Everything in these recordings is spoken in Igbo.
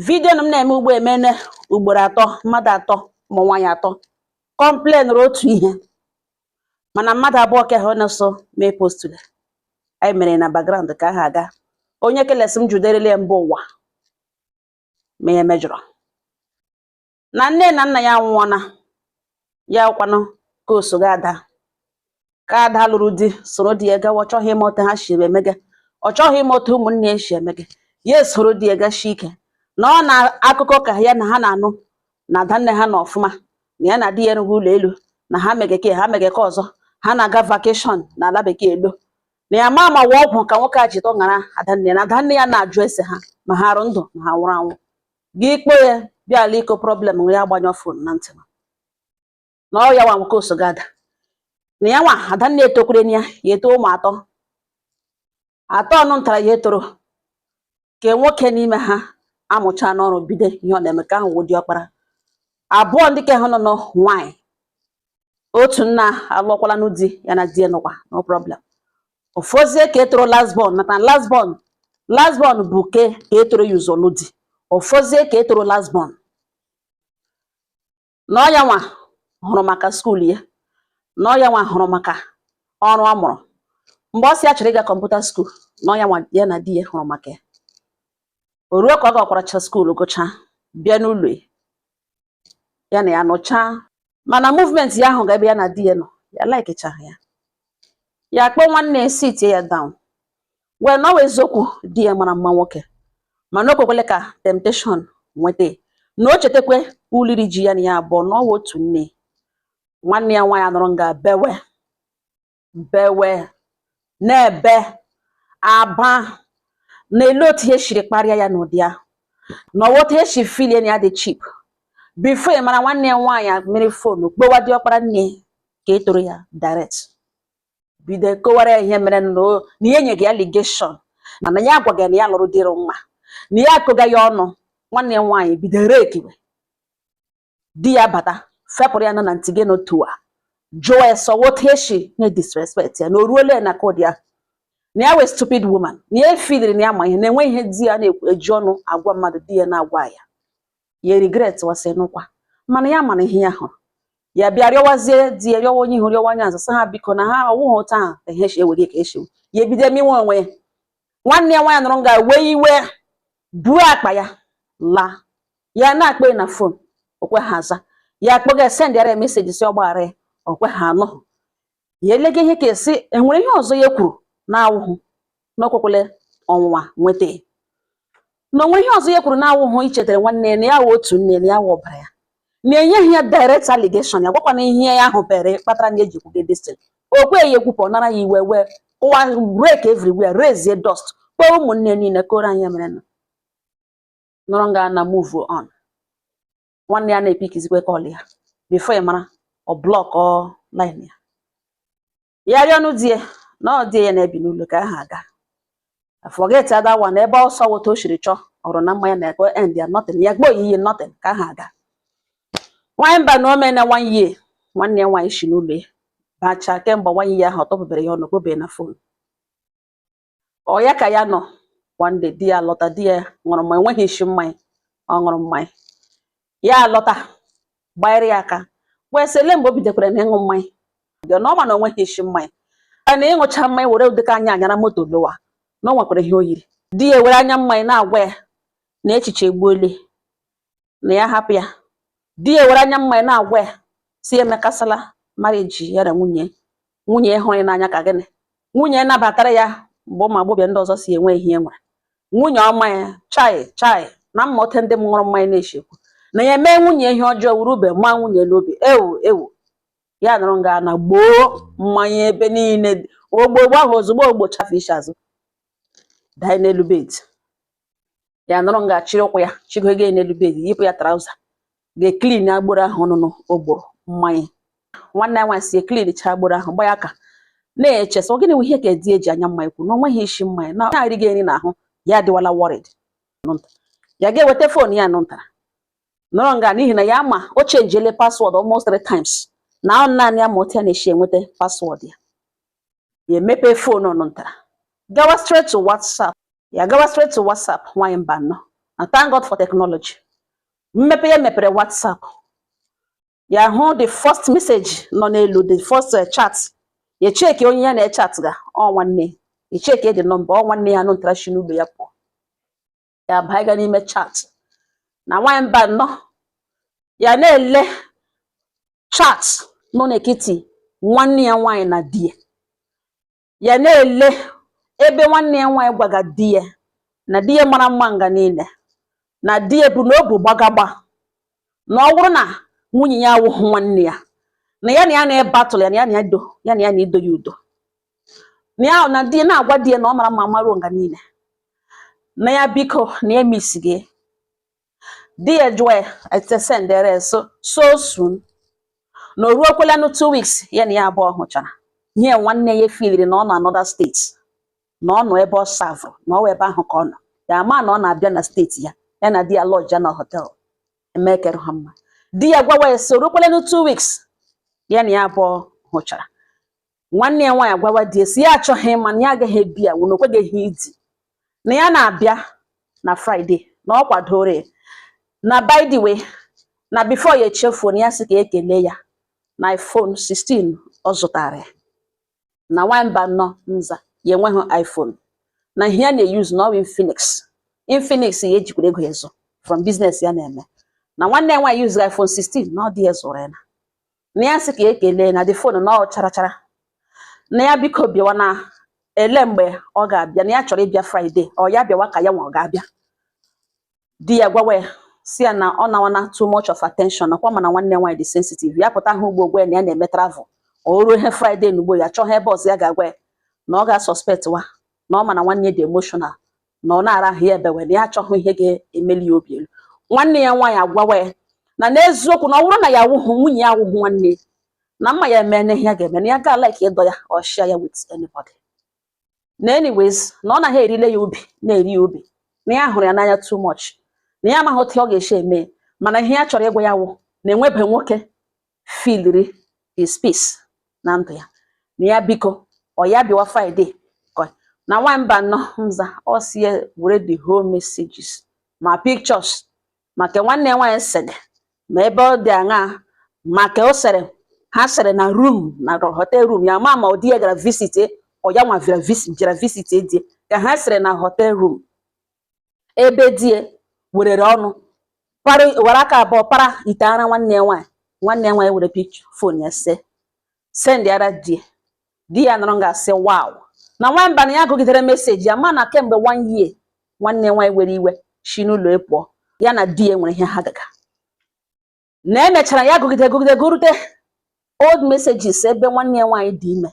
vidio na m na-eme ugbo emene ugboro atọ mmadụ atọ ụmụ nwaanyị atọ kọmplenụrụ otu ihe mana mmadụ abụọ ka ha na-eso mee postule anyị mere na background ka ha aga onye ke le sị m juderele ya mba ụwa ma ya mejọrọ na nne na nna ya nwụọna ya kwanụ ke osoga ada ke ada lụrụ di soro di ya gawa ọ chọghị ịma otu ha si emege ọ chọghị ịma otu ụmụnne ya si emege ya esoro di ya gashi ike na ọ na akụkọ ka ya na ha na-anụ na adanne ha nọ ọfụma na ya na di ya rụrụ ụlọ elu na ha megeke ha megeke ọzọ ha na-aga vakeshọn na ala bekee elo na ya ma ma ọ wụ ọgwụ ka nwoke a ji tọṅara adanne na adanne ya na-ajụ ese ha ma ha rụ ndụ ma ha nwụrụ anwụ gị ikpe ya bịa ala ịkọ problem ya agbanyọ fon na ntị na ọ ya nwa wụ ke osoga ada na ya nwa adanna etokwere ya ya eto ụmụ atọ atọ ọnụ ntara ya toro ke nwoke n'ime ha amụchaana ọrụ bido ihe ọ na-eme ke ahụ wụ diọkpara abụọ ndị ke ha nọ nọ nwaanyị otu nna alụọkwala nụ di ya na di ya nọkwa no problem ọ fọzie ke toro last born maka na last born last born bu ke ke toro ya ụzọ lụọ di ọ fọzie ke toro last born na ọ ya nwa hụrụ maka skuul ya na ọ ya nwa hụrụ maka ọrụ ọ mụrụ mgbe ọ sị ya chọrọ ịga kọmputa skuul na ọ ya nwa ya na di ya hụrụ maka ya o ruo ka ọ gakwaracha skuul gụchaa bịa n'ụlọ ya na ya nọchaa mana movement ya ahụga ebe ya na di ya nọ ya laikichaghị ya ya akpọọ nwanne ya sitie ya down wee na ọ wụ eziokwu di ya mara mma nwoke mana o kwekwele ka temptation nweta na o chetakwe uliri ji ya na ya abụọ na ọ wụ otu nne nwanne ya nwaanyị anọrọ nga bewe bewe na-ebe aba na ele otu e siri kparịa ya n'ụdị ahụ na ọ wụ otu e si filie na ya dị cheap bifo ị mara nwanne ya nwaanyị amịrị fon kpọwa diọkpara nne ke toro ya direct bido kọwara ya ihe mere na o- na ihe nyega ya allegation na na ya agwaghị ya na ya lụrụ dịrị nwa na ya akọga ya ọnụ nwanne ya nwaanyị bido rekiwe di ya bata fepụrụ ya na na ntị gị n'otu a jụọ ya so ọ wụ otu eshi nye disrespect ya na o ruole na kod ya na ya wụ a stupid woman na ya efiliri na ya ma ihe na enwe ihe di ya na-eji ọnụ agwa mmadụ di ya na-agwa ya ya regretwazie n'ụkwa mana ya mana ihe ya hụrụ ya bịa rịọwazie di ya rịọwa onye ihu rịọwa onye azụ sị ha biko na ha ọ wụghị otu ahụ ka ihe ewere ka eshi ya ebido emewe onwe ya nwanne ya nwaanyị anọrọ nga wee iwe buo akpa ya laa ya na-akpọ na fon o kwehe aza ya akpọga ya sendịara ya meseji sị ọ gbaghara ya o kwehe anụ ya elega ihe ka a sị e nwere ihe ọzọ ya kwuru na-awụhụ na o kwekwele ọnwụnwa nweta ya na o nwehe ihe ọzọ ya kwuru na-awụhụ ichetara nwanne ya na ya wụ otu nne na ya wụ ọbara ya na-enyeghị ya direct allegation ya gwakwana ihe ya hụbere kpatara na eji kwuge destin o kwehe ya ekwupụ ọ nara ya iwe wee ụwa break everywhere raise dust kpọọ ụmụnne niile kọọrọ ha ihe ya mere na nọrọ nga na move on nwanne ya na-epikizikwe kọl ya bifo ị mara ọ blọkọ line ya ya rịọnụ di ya na ọ di ya na-ebi n'ụlọ ka ha aga forget ada wa na ebe ọsọ wota o siri chọọ ọrụ na mmanya na-ekwe end ya nothing ya gbo oyiyi nothing ka ha aga nwanyị Mbanọ o meela one year nwanne ya nwaanyị si n'ụlọ ya bacha kemgbe one year ahụ ọ tọpụbere ya ọnụ kpọbe na fon ọ ya ka ya nọ one day di ya alọta di ya ṅụrụ mmanya enweghị isi mmanya ọ ṅụrụ mmanya ya alọta gbanyere ya aka wee sị ele mgbe o bidokwara na ịṅụ mmanya dị na ọ ma na o nweghị isi mmanya na ịṅụcha mmanya were ụdịka anya a nyara moto lọwa na o nwekwara ihe o yiri di ya were anya mmanya na-agwa ya na echiche egbuole na ya hapụ ya di ya were anya mmanya na-agwa ya sị ya emekasala mariji ya na nwunye nwunye ya hụrụ ya n'anya ka gịnị nwunye ya nabatara ya mgbe ụmụ agbọghọbịa ndị ọzọ sị o nwehe ihe o nwere nwunye ọma ya chai chai na ị ma otu ndị ṅụrụ mmanya na-eshi ekwu na ya mee nwunye ihe ọjọọ wuru ube ma nwunye n'obi ewu ewu ya nọrọ nga na gbọọ mmanya ebe niile ọgbụgbọ ahụ ozugbo ọ gbọcha fee ishi azụ daa n'elu bed ya nọrọ nga chịrị ụkwụ ya chịgoge n'elu bed yipụ ya trauza ga-eklin agbọrọ ahụ ọnụnụ ọ gbọrọ mmanya nwanne ya nwaanyị si eklinchaa agbọrọ ahụ gba ya aka na-eche sị ọ gịnị ihe ka di ya ji anya mmanya kwuru na o nweghị isi mmanya na na-arịghị nri n'ahụ ya adịwala wọrịd ya ga-eweta fon ya nụntara nọrọ nga n'ihi na ya ma o chenjiele paswọdụ almost three times na ọ naanị ya ma otu ya na-esi enweta paswọdụ ya ya emepe fon nụ ntara gawa straight to WhatsApp ya gawa straight to WhatsApp nwaanyị Mbanọ and thank God for technology mmepe ya mepere WhatsApp ya hụ the first message nọ n'elu the first eh, chat ya cheki onye ya na-echat ga ọ nwanne ya cheki the nọmba ọ nwanne ya nụ ntara shi n'ụlọ ya pụọ ya abaiga n'ime chat na nwanyị Mbanọ ya na-ele chat nọ n'ekiti nwanne ya nwaanyị na di ya ya na-ele ebe nwanne ya nwaanyị gwaga di ya na di ya mara mma nga niile na di ya bụ na obu gbagagba na ọ wụrụ na nwunye ya awụghị nwanne ya na ya na ya na-ebatụl ya na ya na ya dọ ya na ya na-adọ ya ụdọ na ya na di na-agwa di ya na ọ mara mma maruo nga niile na ya biko na ya misi gị di ya jụọ ya etesendere so so soon na o ruokwalanụ two weeks ya na ya abụọ hụchara ihe nwanne ya filiri na ọ nọ another steeti na ọ nọ ebe ọ savụrụ na ọ ebe ahụ ka ọ nọ ya ama na ọ na-abịa na steeti ya ya na di ya lọji ya na họtel emekere ha mma di ya gwawa ya si o rukwelenụ two weeks ya na ya abụọ hụchara nwanne ya nwaanyị gwawa di ya si ya achọghị ịma na ya agaghị abịa wụ na o kweghị idi na ya na-abịa na fraịde na ọ kwadoro ya na by the way na before ya echefuo na ya sị ka ekele ya na iphone 16 ọ zụtara ya na nwamba nọ nza ya enweghị iPhone na ihe ya na-eyuzu na ọ wụ Infinix Infinix ya ejikwara ego zụọ from biznes ya na-eme na nwanne ya nwaanyị yuzuru iPhone 16 na ọ di ya zụrụ ya na na ya sị ka ya ekelee na the fon na ọ chara chara na ya biko bịawa na ele mgbe ọ ga-abịa na ya chọrọ ịbịa Fraịde ọ ya bịawa ka ya nwa ọ ga-abịa di ya gwawa ya si ya na ọ nawana too much of attention nakwa ọ ma na nwanne nwaanyị dị sensitive ya pụta ahụ ugbo gwa na ya na-eme travel o ruo ihe fraịde na ugbo ya chọọ ha ebe ọzọ ya ga-agwa ya na ọ ga-asọspekt wa na ọ ma na nwanne dị emotional na ọ na-ara ahụ ya ebewe na ya achọghị ihe ga-emeli ya obi elu nwanne ya nwaanyị agwawa ya na n'eziokwu na ọ wụrụ na ya awụghụ nwunye ya awụghụ nwanne na mma ya eme ihe ya ga-eme na ya ga like ịdọ ya or share ya with anybody na anyways na ọ naghị erile ya obi na-eri ya obi na ya hụrụ ya n'anya too much na ya amaghị otu ọ ga-esi eme mana ihe ya chọrọ ịgwa ya wụ na enwebe nwoke filiri his space na ndụ ya na ya biko ọ ya bịawa Friday na nwamba nọ nza ọ si ya were the whole messages ma pictures ma ke nwanne ya nwaanyị sere ma ebe ọ dị aṅaa ma ke o sere ha sere na rum na hotel rum ya ma ma ọ di ya gara visite ọ ya nwa bịara visi jere visite di ya ka ha sere na hotel rum ebe di ya werere ọnụ para were aka abụọ para ite ara nwanne ya nwaanyị nwanne ya nwaanyị were pik fon ya see sendịara di ya di ya nọrọ nga sị wow na nwamba na ya gụgidere meseji ya ma na kemgbe one year nwanne nwaanyị were iwe shi n'ụlọ pụọ e ya na di ya nwere ihe ha ga-aga na emechara ya gụgide gụgide gụrute old messages ebe nwanne ya nwaanyị dị ime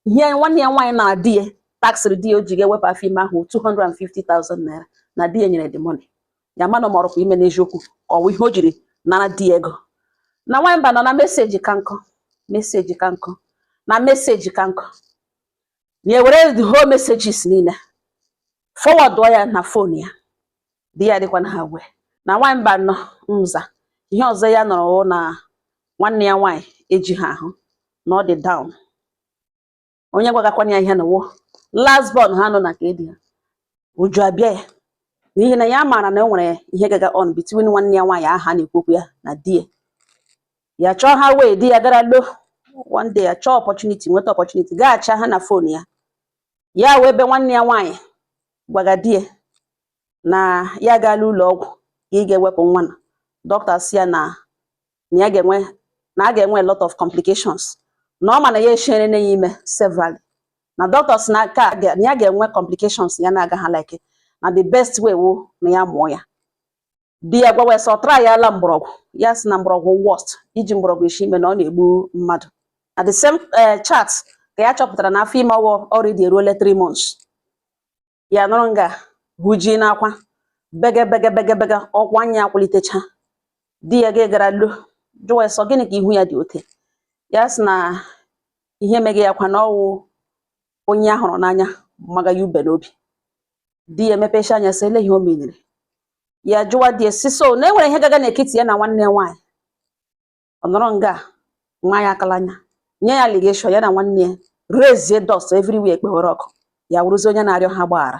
ihe nwanne ya nwaanyị nara di ya taksịrị di ya o ji ga-ewepụ afọ ime ahụ 250,000 naira na di ya nyere the money ya mana ma ọ rụkwa ime n'eziokwu ka ọ wụ ihe o jiri nara di ya ego na nwaanyị Mbano na message ka nkụ message ka nkụ na message ka nkụ na ewere the whole messages niile forwardụọ ya na phone ya di ya dịkwa unaware na nwaanyị Mbano nza ihe ọzọ ya nụrụ wụ na nwanne ya nwaanyị ejighị ahụ na ọ dị down onye gwagakwana ya ihe na ọ wụ last born ha nọ na ka edi ha uju abịa ya n'ihi na ya maara na e nwere ihe gaga on between nwanne ya nwaanyị a ha na-ekwu okwu ya na di ya ya chọọ a way di ya gara lo one day ya chọọ opportunity nweta opportunity gaa chat ha na phone ya ya wee ebe nwanne ya nwaanyị gwaga di ya na ya gaala ụlọ ọgwụ ịga ewepụ nwa na doctor si ya na na ya ga-enwe na a ga-enwe a lot of complications na ọ ma na ya eshierena ya ime severally na doctors na-aka na ya ga-enwe complications ya na-aga ha like na the best way wụ na ya mụọ ya di ya gwawa sị ọ tryala mgbọrọgwụ ya si na mgbọrọgwụ worst iji mgbọrọgwụ esi ime na ọ na-egbu mmadụ na the same eh, chat ka ya chọpụtara na afọ ime ọhụ already eruole 3 months ya nọrọ nga ahụ jie n'akwa bege bege bege bege ọkwa anya akwụlitecha di ya ga gara lo jụwa sị ọ gịnị ka ihu ya dị ote ya sị na ihe mege ya kwa na ọ wụ onye ya hụrụ n'anya maga ya ube n'obi di ya emepecha anya sị ele ihe o menere ya jụwa di ya sị so na e nwere ihe gaga n'ekiti ya na nwanne ya nwaanyị ọ nọrọ nga nwa ya aka n'anya nye ya allegation ya na nwanne ya raisie dust everywhere ekpewere ọkụ ya wụrụzi onye na-arịọ ha gbaghara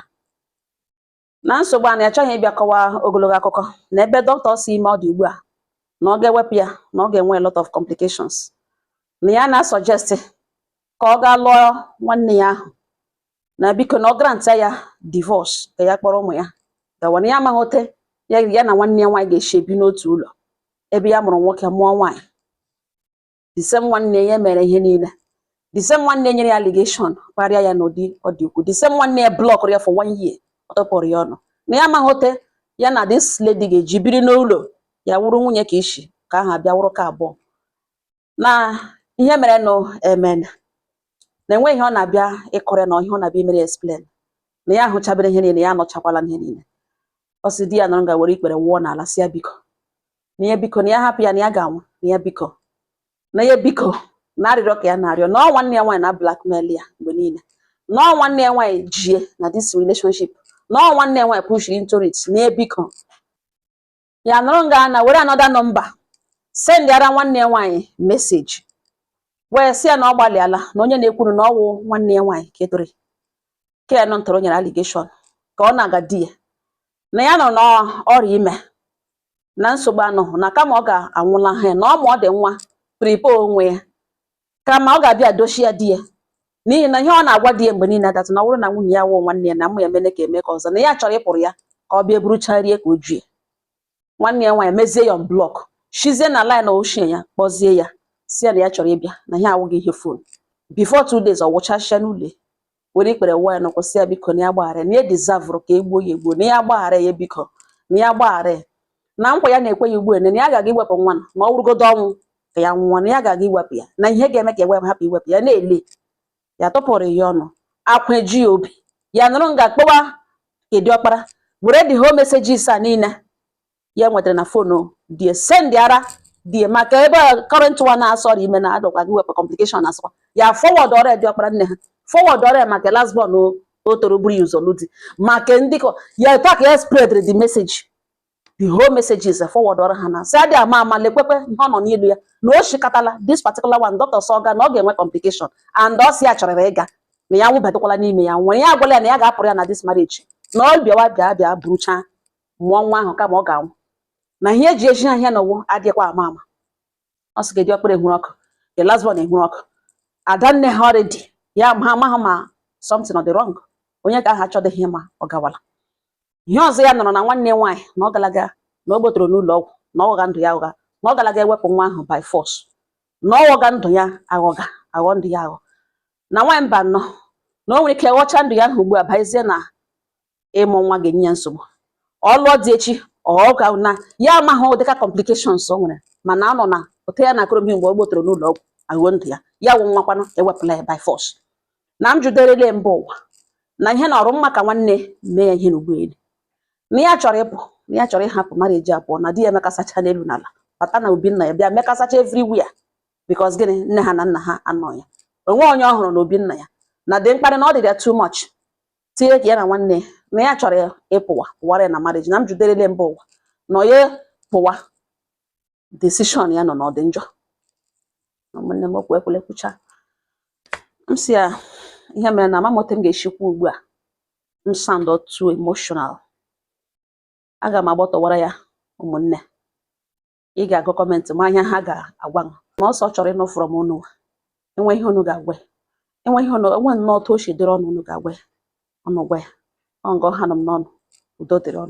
na nsogbu a na ya achọghị ịbịa kọwaa ogologo akụkọ na ebe doctor sị ime ọ dị ugbu a na ọ ga-ewepụ ya na ọ ga-enwe a lot of complications na ya na-asuggest ka ọ gaa lụọ nwanne ya ahụ na biko na ọ granta ya divorce ka ya kpọrọ ụmụ ya gawa na ya amaghị ote ya ya na nwanne ya nwaanyị ga-esi ebi n'otu ụlọ ebe ya mụrụ nwoke mụọ nwaanyị the same nwanne ya mere ihe niile the same nwanne nyere ya allegation kparịa ya n'ụdị ọ dị ukwu the same nwanne ya blockụrụ ya for one year ọ tụpụrụ ya ọnụ na ya amaghị ote ya na this lady ga-eji biri n'ụlọ ya wụrụ nwunye ke isi ke ahụ abịa wụrụ ke abụọ na ihe merenụ emeena na enweghị ihe ọ na-abịa ịkọrọ na ihe ọ na-abịa imere explain na ya ahụchabere ihe niile ya anụchakwala ihe niile ọ sị di ya nọrọ nga were ikpere wụọ n'ala si ya biko na ya biko na ya hapụ ya na ya ga-anwụ na ya biko na ya biko na arịrịọ ka ya na-arịọ na ọ nwanne ya nwaanyị na-blackmail ya mgbe niile na ọ nwanne ya nwaanyị ji ya na this relationship na ọ nwanne ya nwaanyị pushiri into it na ya biko ya nọrọ nga na were another number sendịara nwanne ya nwaanyị message wee sị ya na ọ gbalịala na onye na-ekwuru na ọ wụ nwanne ya nwaanyị kedore ke nọ ntọrọ nyere allegation ka ọ na-aga di ya na ya nọ na ọ rị ime na nsogbu anọghị na kama ọ ga-anwụla ha na ọ ma ọ dị nwa prepare onwe ya kama ọ ga-abịa dochie ya di ya n'ihi na ihe ọ na-agwa di ya mgbe niile adatụ na ọ bụrụ na nwunye ya wụọ nwanne ya na mụ ya mene ka eme ka ọzọ na ya chọrọ ịpụrụ ya ka ọ bịa buruchaa rie ka o jue nwanne ya nwaanyị mezie ya blockshizie na line echi ya kpọzie ya sị ya na ya chọrọ ịbịa na ihe a awụghị ihe phone before two days ọ wụchasịa n'ụlọ were ikpere wụọ ya n'ụkwụ sị ya biko na ya gbaghara ya na ya deservụrụ ka e gbuo ya egbuo na ya gbaghara ya biko na ya gbaghara ya na nkwa ya na-ekwe ya ugbu a na ya agaghị iwepụ nwa na ma ọ wụrụgodo ọnwụ ka ya nwụọ na ya agaghị iwepụ ya na ihe ga-eme ka ya wepụ hapụ iwepụ ya na-ele ya tụpụrụ ya ọnụ akwa eji ya obi ya nọrọ nga kpọwa ke di ọkpara were the whole messages a niile ya nwetara na phone di ya sendịara di ya maka ebe current one na-asị ọ rị ime na adọkwa gị wepụ complication esokwa ya forwardụọra di ọkpara nne ha forwardụọra maka last born o toro buru ya ụzọ lụọ di maka ndị kọ ya etu a ka ya spreadrị the message the whole messages forwardụọrọ ha na sị adị ama ama lekwekwe ihe ọ nọ n'elu ya na o shikatala this particular one dọkịta sịga na ọ ga-enwe complication and ọ sị ya chọrọ ịga na ya nwụbatakwala n'ime ya nwere ya agwala ya na ya ga-apụrụ ya na this marriage na ọ bịawa bịa bịa buruchaa mụọ nwa ahụ kama ọ ga-anwụ na ihe eji eji ahịa na ụwa adịghịkwa ama ama ọ sị di ọkpara ewere ọkụ the last one ewere ọkụ ada nne ha already ya ma amaghị ma something ọ dị wrong onye ka aha achọdịghị ma ọ gawala ihe ọzọ ya nụrụ na nwanne nwaanyị na ọ galaga na ọ gbotoro n'ụlọ ọgwụ na ọ ghọga ndụ ya aghọ na ọ galaga ewepụ nwa ahụ by force na ọ ghọga ndụ ya aghọga aghọ ndụ ya aghọ na nwaanyị mba nọ na o nwere ike ghọcha ndụ ya aghọ ugbu a bịazie na ịmụ nwa ga-enye ya nsogbu ọ lụọ di echi ọ ga na ya amaghị ụdịka complications o nwere mana anọ na ote ya na akụrụbi mgbe ọ gbotoro n'ụlọ ọgwụ aghọ ndụ ya ya wụ nwa kwanụ ewepụla ya by force na m jụderele mba ụwa na ihe na ọ rị mma ka nwanne mee ya ihe na ụgbọelu na ya chọrọ ịpụ na ya chọrọ ịhapụ marriage apụọ na di ya emekasacha n'elu n'ala bata na obi nna ya bịa mekasacha everywhere because gịnị nne ha na nna ha anọ ya o nwe onye ọ hụrụ na obi nna ya na the mkparị na ọ dị ya too much tinyere ka ya na nwanne na ya chọrọ ịpụwa pụwara ya na marriage na m jụderele mba ụwa na ya pụwa decision ya nọ na ọ dị njọ ụmụnne m okwu ekwele kwucha m sị ya ihe mere na ama m otu m ga-esi kwuo ugbu a m sound too emotional aga m agbọtọwara ya ụmụnne ị ga-agụ comment ma ihe ha ga-agwa m na ọ sị ọ chọrọ ịnụ from unu e nwee ihe unu ga-agwa ya. e nwee ihe unu enwe nnọọ otu o si dịrị unu unu ga-agwa ya unu gwa ya ọ nga ọ hanụ m n'ọnụ udo dịrị unu